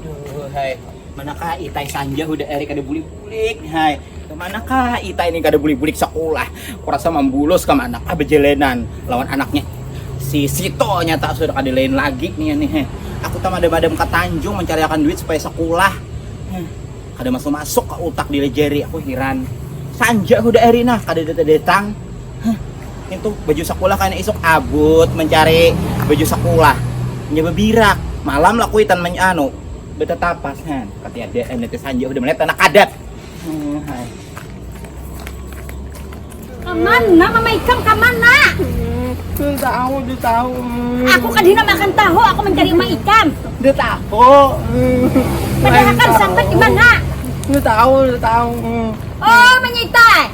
Aduh, hai. Manakah itai sanja hudah hari kada bulik-bulik, hai. Manakah itai ini kada bulik-bulik sekolah. Kurasa mambulos ke mana kah bejalanan lawan anaknya. Si Sito nyata sudah kada lain lagi nih nih. Hai. Aku tak madam-madam ke Tanjung mencariakan duit supaya sekolah. Hmm. Kada masuk-masuk ke utak diri jari aku hiran. Sanja hudah hari nah kada datang-datang. Hah, itu baju sekolah kayaknya isuk abut mencari baju sekolah. Nya bebirak, malam lah kuitan men anu betetapas kan. Kati ada anu teh sanja udah melihat anak adat. Hmm, hai. Kamana mama ikam kamana? Tuh tahu, tuh tahu. Aku kadina makan tahu, aku mencari mama ikam. Tuh tahu. Padahal kan sampai di mana? Tuh tahu, tuh tahu. Oh, menyitai.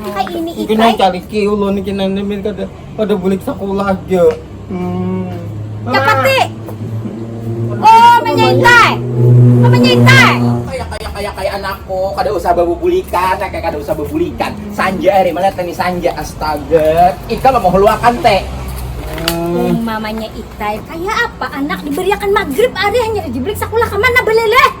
Hai ini ikai. Ikai cari kiulo nih kena nemen kada kada bulik sekolah aja. Hmm. Cepat sih. Oh, menyintai. Oh, menyintai. Kayak kayak kayak kayak anakku, kada usah bebulikan, kayak kada usah bebulikan. Sanja hari mana tani sanja astaga. Ika lo mau luakan teh. Hmm. Mamanya Itai kayak apa anak diberiakan maghrib hari hanya dibelik sekolah kemana belele?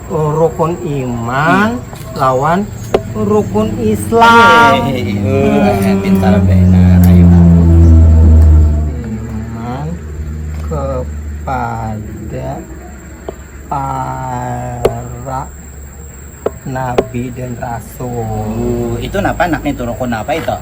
rukun iman lawan rukun islam kepada para nabi dan rasul itu napa itu rukun apa itu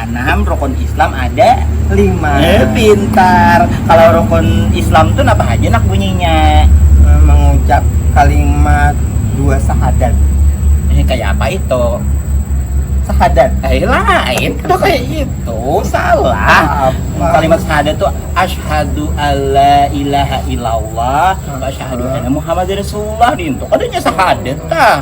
Anam rukun islam ada lima. Eh pintar, kalau rukun islam tu napa haja nak bunyinya? Mengucap kalimat dua sahadat. Eh kaya apa itu? Sahadat. Eh lain, kada kaya itu, salah. Kalimat sahadat tu asyhadu alla ilaha illallah wa asyhadu anna muhammadan rasulullah dintu kadanya sahadat tah.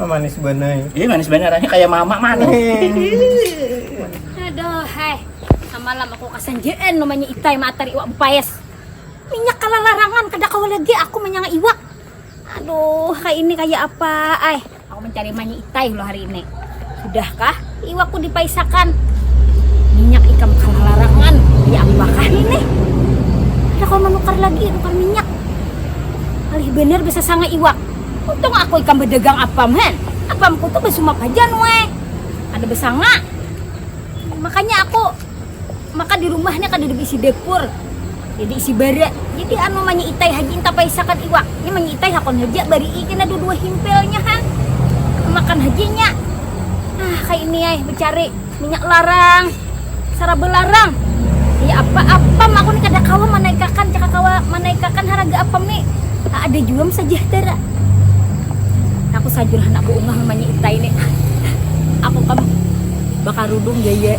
Oh, manis bener. Iya manis bener, ini kayak mama manis. Aduh, heh. Samalam aku kasanjaan namanya itai matar iwak bupayas. Minyak kalah larangan, kada kawa lagi aku manyanga iwak. Aduh, kayak ini kayak apa? Ay, aku mencari manya itai loh hari ini. Sudahkah? Iwak ku dipaisakan. Minyak ikam kalah larangan diapakah ini? Kada kawa manukar lagi nukar minyak. Alih banar basasanga iwak. Untung aku ikam badagang apam han. Apam ku tu basumap haja nueh. Kada basanga. Makanya aku. maka di rumahnya kada ada beisi dapur jadi isi bara jadi anu manyiitai haji entah paisakan iwak ini manyiitai hakon haja barii kena dua dua himpilnya ha makan hajinya ah kaya ini ai becari minyak larang saraba larang ya apa apam aku ni kada kawa manaikakan caka kawa manaikakan haraga apam ni ada jua am sajahtera aku sajur handak baungah manyiitai ni aku kam bakarudung gaya.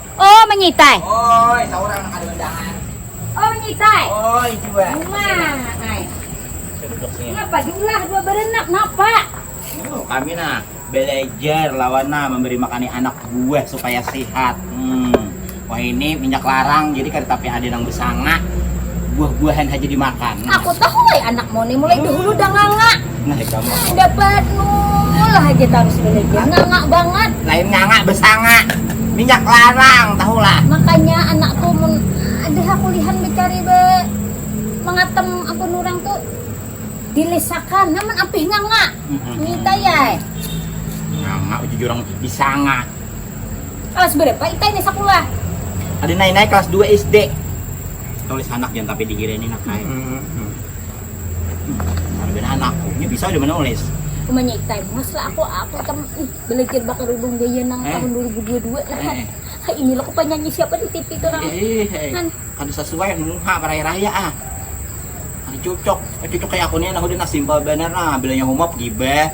Oh menyitai. Oi, saurang nang ada undangan. Oh menyitai. Oi, jua. Cuma, ay. Ngapa jumlah dua berenap? Napa? Oh, kami nah belajar lawan nah memberi makani anak buah supaya sehat. Hmm. Wah ini minyak larang jadi kada tapi ada nang bersanga. Buah-buahan haja dimakan. Aku tahu ay anakmu ni mulai dahulu danganga. dapat nulah aja tarus ini aja ngangak banget lain ngangak besanga minyak larang tahu lah makanya anakku mun ada kulihan mencari be mengatem apa orang tu dilesakan namun apih ngangak minta ya ngangak uji orang bisa ngangak kelas berapa kita ini sekolah ada naik-naik kelas 2 SD tulis anak yang tapi dikira ini nak naik mm -hmm. Marbin anakku, ini bisa udah menulis. Umanya iktai mas lah aku aku tam ih, belajar bakar udung gaya nang eh. tahun 2022 nah kan. Eh. eh. Ini loh penyanyi siapa di TV itu nang. Eh, eh. Kan. Kada sesuai muha raya-raya ah. Ada cocok, eh, cocok kayak aku nih nah udah nah simpel bener nah bilangnya humop gibeh.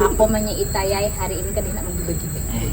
aku manya itayai hari ini kan enak menggibah-gibah. Eh.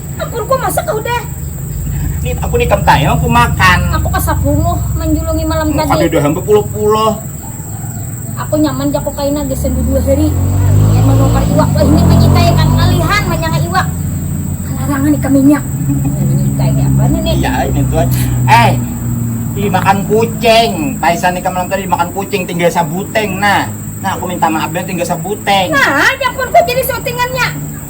Akur ku masak kah udah? Ni aku ni kam tayang aku makan. Aku kasapunuh manjulungi malam tadi. Kada ada hamba puloh-puloh. Aku nyaman ja ko kaina gasan dua hari pian manukar iwak. Wah ini manyitai akan ngalihan manyanga iwak. Kalarangan ikam inya. Manyitai apa nih nih. Iya ini tuan. Eh dimakan kucing. Taisan ikam malam tadi dimakan kucing tinggal sabuteng nah. Nah aku minta maaf dah tinggal sabuteng. Nah jakun ku jadi sautingannya.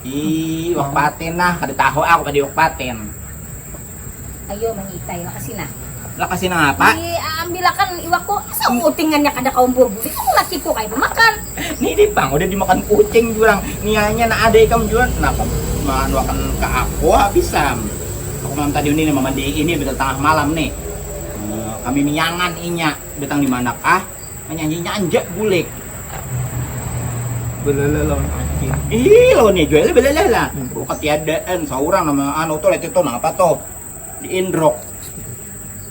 Ih, iwak patin nah, kada tahu aku pada iwak patin. Ayo manyitai lakasi nah. Lakasi nang apa? Di ambilakan iwakku, asa uting nganya kada kawa buah bulik aku lakiku kaya bamakan. Nini pang udah dimakan kucing jua nang, nianya nang ada ikam jua napa manuakan ka aku habis am. Aku malam tadi ini mamandii ini udah tangah malam nih. Eh, kami miyangan inya datang di manakah? Manyanyi nyanjak bulik. Belalah lawan anjing. Ih, lawan ya jual belalah lah. Hmm. Oh, ketiadaan seorang nama anu tuh itu apa tuh? Di indrok.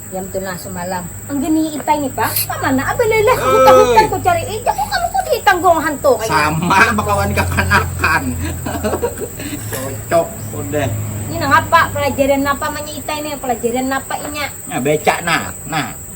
Yang tuh nah semalam. Anggini itai nih, Pak. Kemana ah, belalah? Aku tahutan ku cari ijak. Kok kamu kok ditanggung hantu kayak Sama bakawan kekanakan. Cocok udah. Ini nang apa? Pelajaran apa manya itai nih? Pelajaran apa inya? Nah, becak nah. Nah.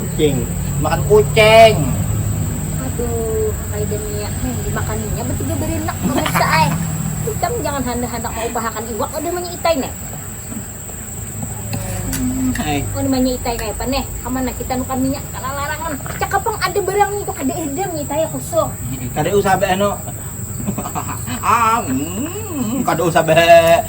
kucing makan kucing aduh kayak niat nih dimakan ini apa tiga berenak pemirsa ay kita jangan hendak hendak mau upahakan iwak udah manya itai nih hai oh namanya itai kayak apa nih kemana kita nukan minyak kalau larangan cakap pang ada barang itu kada edem itai ya kusuk kada usah beno hahaha kada usah beno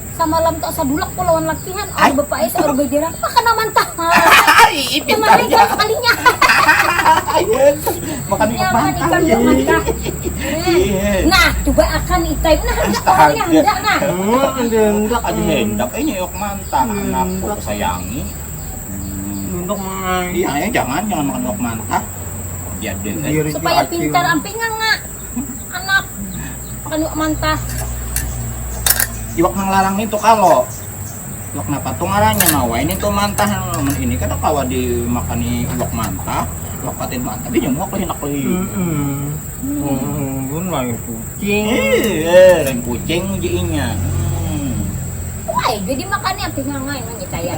samalam tu asa dulak ko lawan lakihan aur bepaya tu aur bejerang apa kena mantap kemarin kan sekalinya makan ikan mantap nah coba akan ikan nah hendak orangnya hendak nah hendak aja hendak eh nyeyok mantap anak ku sayangi hendak makan iya jangan jangan makan ikan mantap supaya pintar ampe nganga anak panu mantah iwak nang larang itu kalau iwak napa tuh ngarannya nawa ini tuh mantah ini kada kawa dimakani iwak mantah iwak patin mantah dia muak lagi nak lagi hmm, lain kucing eh lain kucing ujiinnya hmm. Wah, jadi makannya pinangai nanya cayar.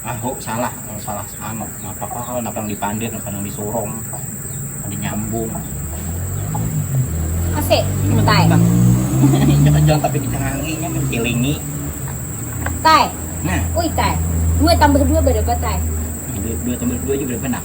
Ahu salah kalo salah anu napa kalo napa nang dipandir napa nang disurung napa dinyambung. Ase Ini mah Tae. tetap injak ka jalan tapi dicangangi nya mencilingi. Tae. Nah. Uy Tae. Dua tambah dua berapa Tae? Dua tambah dua ja berapa nak?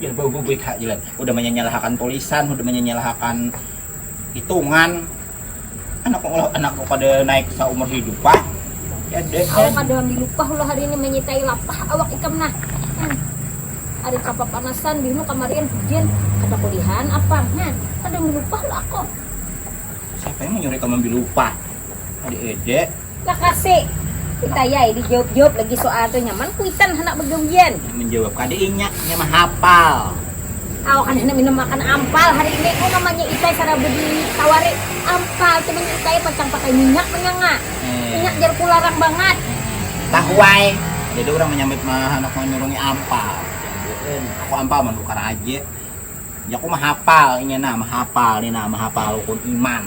Jar baguguit ha Dilan, hudah manyanyalahakan tulisan, hudah manyanyalahakan hitungan, anak ulah anak ko kada naik saumur hidup ha. Awak kada wan dilupah ulah hari ini manyitai lapah awak ikam nah. Hah. Ari kapapanasan bihnu kamarian hujan, kada kulihan apang. Hah. Kada wan dilupah ulah ako. Siapa yang manyuruh ikam wan bilupah. Diedek. Lakasi. Kita yai dijawab-jawab lagi soal tu nyaman kuitan handak begawian. Menjawab kada inya, inya mah hapal. Awak kada handak minum makan ampal hari ini. Oh mamanya itai sarabu ditawari ampal, cuman itai pacang pakai minyak punya nga. Eh. Minyak jarku larang bangat. Tahuai. Jadi orang menyambut mah handak menyurungi ampal. Aku ampal menukar aja. Jaku mah hapal inya nah, mah hapal ni nah, mah hapal rukun iman.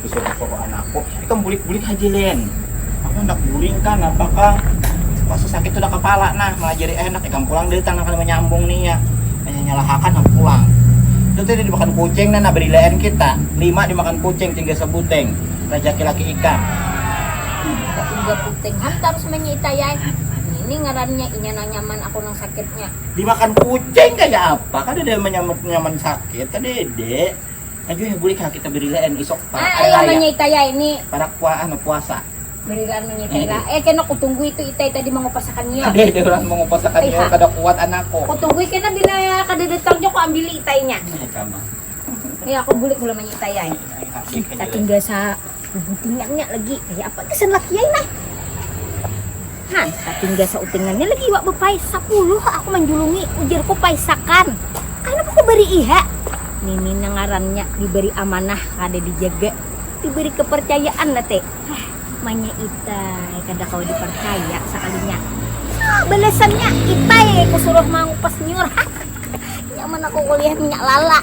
Bisa dibawa anakku. Ikam bulik-bulik haji Lin. Aku hendak guring kan apa ka Pasti sakit sudah kepala nah malah jadi enak ikam pulang dari tanah kali menyambung nih ya. Hanya nyalahakan aku pulang. Itu tadi dimakan kucing dan abadilaan kita. Lima dimakan kucing tinggal sebuting. Rejeki laki ikam. Tapi juga puting hantar semuanya itayai. Ini ngarannya inya nang nyaman aku nang sakitnya. Dimakan kucing kayak apa? Kan ada nyaman sakit, kan dede. Ajuh ya bulik ha kita berilaan isok parak hari raya. Ai amanya itai ya ini. Parak pua anu puasa. Berilaan manya itai lah. Eh kena kutunggui tu itai tadi mangupas akan nya. Ada ada orang mangupas akan nya kada kuat anak ko. Kutunggui kena bila kada datang jua ku ambili itai nya. Iya kama. Iya aku bulik mula manya itai ai. Saking biasa. Sabutingannya lagi kaya apa gasan laki ai nah. Han, satinggal sautingannya lagi iwak bepai sapuluh ha aku manjulungi, ujarku paisakan. Kanapa kau bari iha? Nini nang ngarannya diberi amanah kada dijaga, diberi kepercayaan lah te. Hah, manya itai kada kawa dipercaya sakalinya. Ha, balasannya itai kusuruh mangupas nyiur. Nyaman aku kuliah minyak lala.